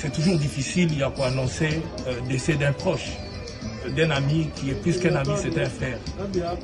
C'est toujours difficile ya ko annoncer euh, décès d'un proche euh, d'un ami qui est plus qu'un ami c'est un frère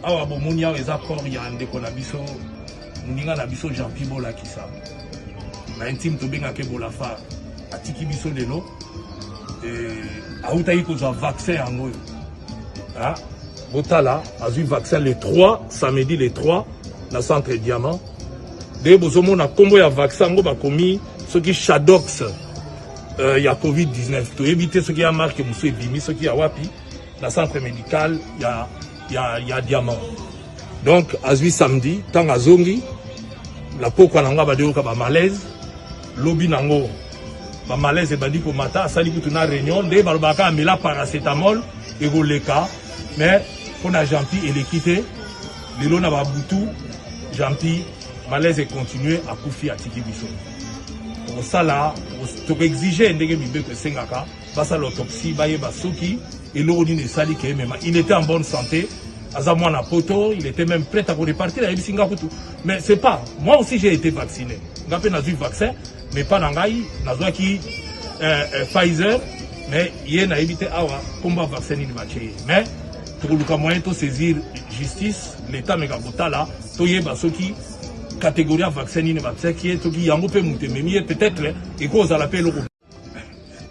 awa bomoni awa eza corps ya ndeko na biso moninga na biso jean pi bolakisa na intime tobengaka ebolafa atiki biso lelo awutaki kozwa vaccin yango oyo ah, botala azwi vaccin le 3 samedi le 3 na centre diamant nde bozomona nkombo ya vaccin yango bakomi soki shadox euh, ya covid-19 toyebi te soki ya marke mosusu ebimi soki ya wapi na centre médical ya, ya, ya diamant donc azwi samedi ntango azongi lapokwa na yango abandi koyoka bamalaise lobi na yango bamalaise ebandi komata asali kutu na réunion nde balobaka kaka mela paracetamol ekoleka mais mpo na gentil eleki te lelo na babutu gentil Malaise continue akufi atiki biso tokosala tokoexige ndenge mibeko esengaka basala autopsie bayeba soki eloko nini esali ke emema il était en bonne santé aza mwana poto il était même prêt à korepartir ayebisi nga kutu mais c'est pas moi aussi j'ai été vacciné nga mpe nazwi vaccin Mais pas na ngai nazwaki euh, euh, Pfizer mais ye nayebi te awa komba vaccin nini batye ye mais tokoluka moyen tosaisir justice leta meka kotala toyeba soki catégorie ya vaccin nini batiaki ye soki yango mpe moto ememi ye peut-être ekozala mpe eloko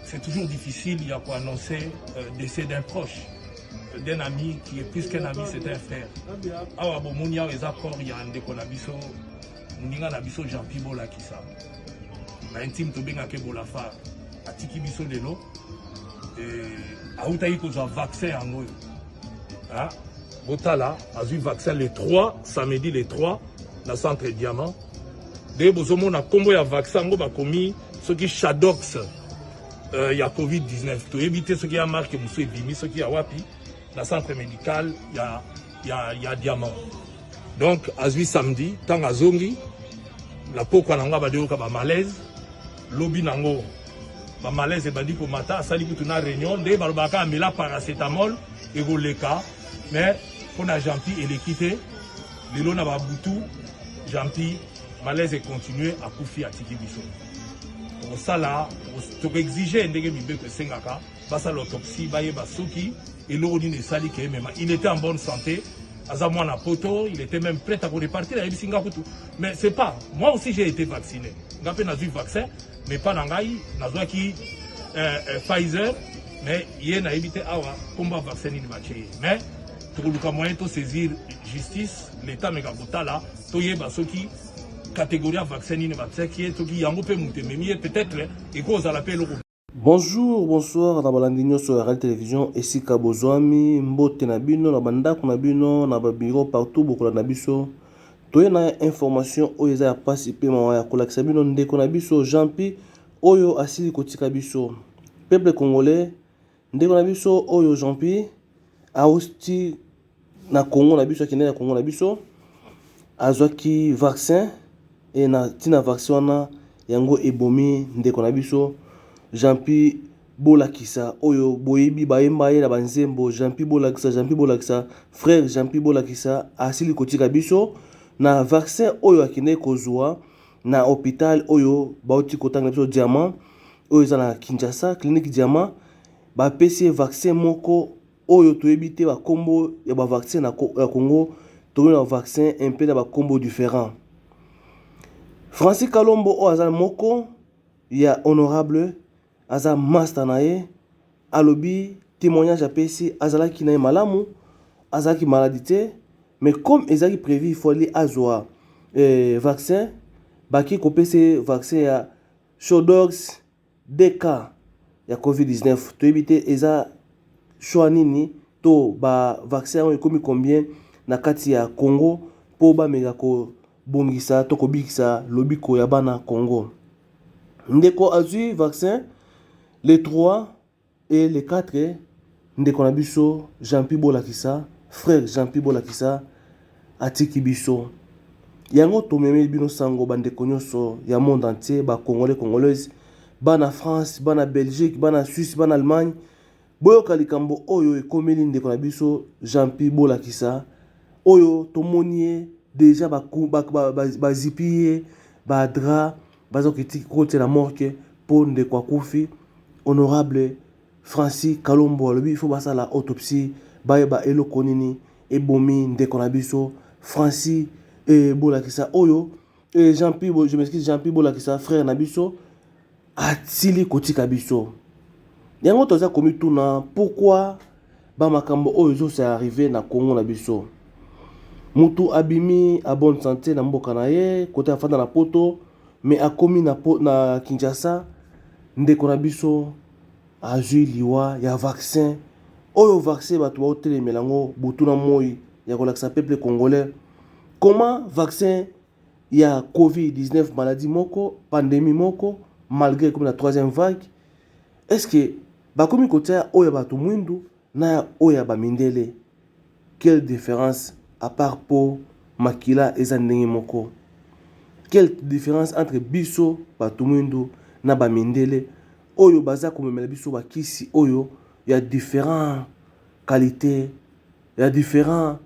c'est toujours difficile ya koannoncer euh, décès d'un proche d'un ami qui est plus qu'un ami c'est un frère awa bomoni awa eza corps ya ndeko na biso moninga na biso gentil bolakisa na intime tobengaka ebolafar atiki biso lelo autaki kozwa vaccin yango oyo botala azwi vaccin le 3 samedi le 3 na centre diamant nde bozomona nkombo ya vaccin yango bakomi soki shadox euh, ya covid-19 toyebi te soki ya marke mosusu ebimi soki ya wapi na centre médical ya ya, ya diamant donc azwi samedi ntango azongi na pokwa na yango abandi koyoka bamalaise lobi na yango bamalaise ebandi komata asali kutu na réunion nde balobaka amela paracetamol ekoleka mais mpo na gentil eleki te lelo na babutu gentil malaise econtinue akufi atiki biso tokosala tokoexige ndenge mibeko esengaka basala autopsie bayeba soki eloko nini esali ke mema il était en bonne santé aza mwana poto il était même prêt à korepartir ayebisi nga kutu mais c'est pas moi aussi j'ai été vacciné nga mpe nazwi vaccin mais mpa na ngai nazwaki euh, euh, pfizer mais ye nayebi te awa nkombo ya vaccin nini batye ye mais tokoluka moyen tosaisir justice l'état meka kotala toyeba soki catégorie ya vaccin nini batiaki ye soki yango mpe moto ememi ye peut-être ekozala mpe eloko Bonjour, bonsoir na balandi nyoso ya Rally Television esika bozwami, mbote na bino na bandako na bino na ba bureau partout bokolanda biso. Toye na information oyo eza ya pasi pe mawa ya kolakisa bino ndeko na biso Jean Pi oyo asili kotika biso. Peuple congolais, ndeko na biso oyo Jean Pi auti na Congo na biso akendaki na Congo na biso azwaki vaccin e na ntina vaccin wana yango ebomi ndeko na biso Jean-Pi Bolakisa oyo boyebi bayemba ye na banzembo Jean-Pi Bolakisa Jean-Pi Bolakisa frère Jean-Pi Bolakisa asili kotika biso na vaccin oyo akendaki kozwa na hôpital oyo bauti kotanga biso Diamant oyo eza na Kinshasa clinique Diamant bapesi ye vaccin moko oyo toyebi te ba kombo ya ba vaccin na Congo tomoni ba vaccin un peu na ba kombo different Francis Kalombo oyo aza moko ya honorable aza master na ye alobi témoignage apesi azalaki na ye malamu azalaki maladi te mais comme ezalaki prévu ifali azwa eh, vaccin baki kopesa vaccin ya shodogs Deux cas ya covid 19 toyebi te eza choix nini to ba vaccin yango ekomi combien na kati ya Congo po bameka ko bongisa to kobikisa lobiko ya bana Congo. Ndeko azui vaccin le 3 Et les quatre ndeko na biso Jeanpy bolakisa frère Jeanpy bolakisa atiki biso yango tomemeli bino sango ba ndeko nionso ya monde entier ba congolais congolaise bana France bana Belgique bana Suisse bana Allemagne boyoka likambo oyo ekomeli ndeko na biso Jeanpy bolakisa oyo tomoni ye deja bazipi ye ba drap Bazo kiti cote na morque po ndeko akufi honorable Franci kalombo alobi il faut basala autopsy bayeba eloko nini ebomi ndeko na biso Franci eh bolakisa oyo eh Jean Pi je m'excuse Jean Pi bolakisa frère na biso asili kotika biso yango toza komituna pourquoi Ba makambo oyo ezo se arriver na Congo na biso. Mutu abimi a bonne sante na mboka na ye kote afanda na poto mais akomi na na Kinshasa ndeko na biso azui liwa ya vaccin. Oyo vaccin batu bao telemela ngo butu na moyi ya kolakisa peuple congolais comment vaccin ya covid 19 maladie moko pandemie moko malgre ekomi na troisième vague est ce que bakomi kotia ya oyo ya bato mwindu na ya oyo ya bamindele quelle différence à part po makila eza ndenge moko quelle différence entre biso bato mwindu na bamindele oyo baza komemela biso bakisi oyo ya différent qualité ya différent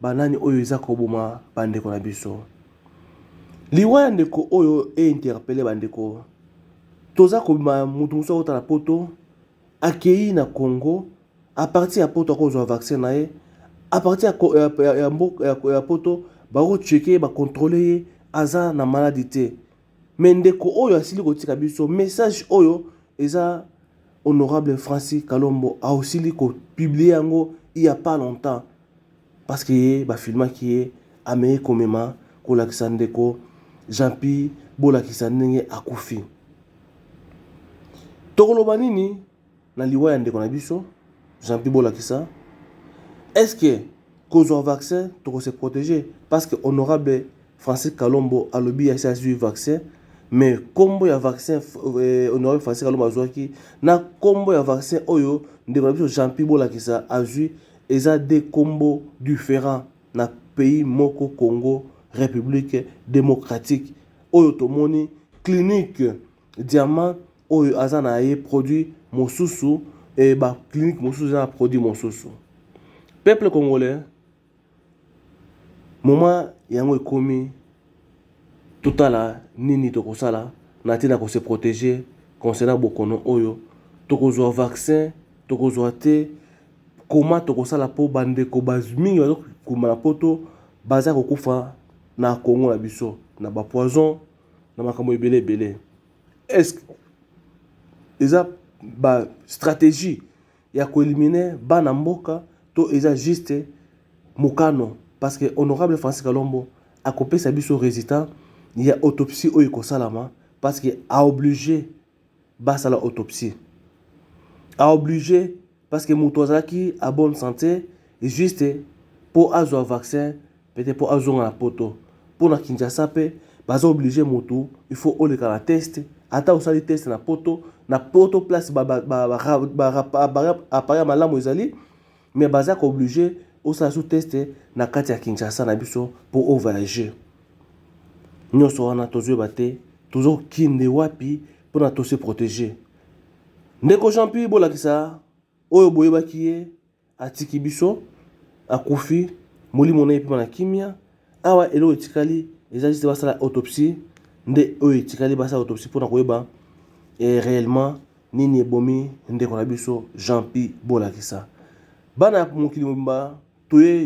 Ba nani oyo eza ko boma ba ndeko na biso? Liwa ya ndeko oyo e interpelle ba ndeko. Toza ko bima mutu mususu akota na poto, akeyi na Congo, a partir ya poto ako zwa vaccin na ye, a partir ya, ya, ya, ya, ya poto bako checker ye, ba controller ye aza na maladie te. Mais ndeko oyo asili kotika biso message oyo eza honorable Francis Kalombo asili ko publier yango il ya pas longtemps parce que ye ba filmaki ye amei komema kolakisa ndeko Jean-Pi bolakisa ndenge akufi tokoloba nini Na liwa ya ndeko na biso jean pi bolakisa est ce que kozua vaccin toko se protege parce que honorable Francis kalombo alobi asi azui vaccin mais kombo ya vaccin honorable Francis kalombo azuaki na kombo ya vaccin oyo ndeko na biso jean pi bolakisa azui eza de kombo different na pays moko congo republique democratique oyo tomoni clinique diamant oyo aza na ye produit mosusu e ba clinique mosusu eza na produit mosusu peuple congolais moment yango ekomi totala nini tokosala na ntina kose protéger concernant bokono oyo tokozwa vaccin tokozwa te koma tokosala mpo bandeko mingi bazokuma na poto baza kokufa na kongo na biso na bapoison na makambo ebele ebele Est-ce que eza ba strategie ya ko eliminer bana mboka to eza juste mokano parce que honorable Francis Kalombo akopesa biso résultat ya autopsie oyo ekosalama parce que a oblige basala autopsie a oblige Parce que mutu azalaki a bonne sante juste po azua vaccin peut etre po azonga na poto. Po na Kinshasa pe baza oblige mutu il faut oleka na test ata osali test na poto na poto place ba appareil ya malamu ezali mais baza ko oblige osala su test na kati ya Kinshasa na biso po o voyager. Nionso wana tozo yeba te tozo kende wapi pona to se proteger. Ndeko Jean-Pi bolakisa oyo boyebaki ye atiki biso akufi molimo na ye epema na kimia awa eloko etikali eza juste basala autopsie nde oyo etikali basala autopsie mpona koyeba eh, réellement nini ebomi ndeko na biso Jean-Pi bolakisa bana ya mokili mobimba toye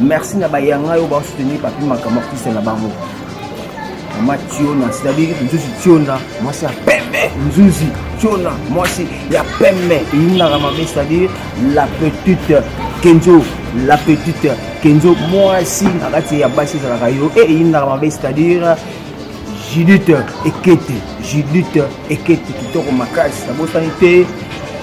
Merci na ba yanga yo ba soutenir papi makama kisa na bango. Mama Tiona, c'est-à-dire nzuzi Tiona, mwasi ya pembe. Nzuzi Tiona, mwasi ya pembe. Eyinaka mabe, c'est-à-dire la petite Kenzo, la petite Kenzo, mwasi na kati ya basi ezalaka yo. Eyinaka mabe, c'est-à-dire Judith Ekete, Judith Ekete kitoko makasi, nabosani te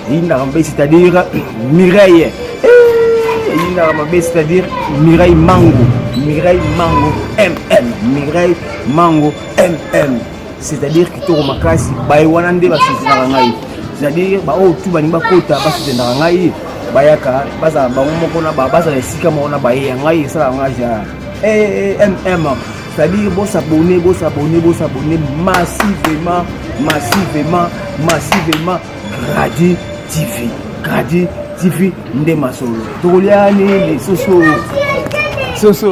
eyindaka mabe, c'est-à-dire Mireille eh, eyindaka mabe, c'est-à-dire Mireille Mango, Mireille Mango MM, Mireille Mango MM, c'est-à-dire kitoko makasi, baye wana nde basusinaka ngai, c'est-à-dire baoyo tu balingi bakota basusinaka ngai bayaka bazala bango moko na bazala esika moko na baye ya ngai esalaka ngai ja eh, eh, eh, mm c'est-à-dire bo s'abonner bo s'abonner bo s'abonner massivement massivement massivement Gradi TV Gradi TV nde masolo tokolia nini soso soso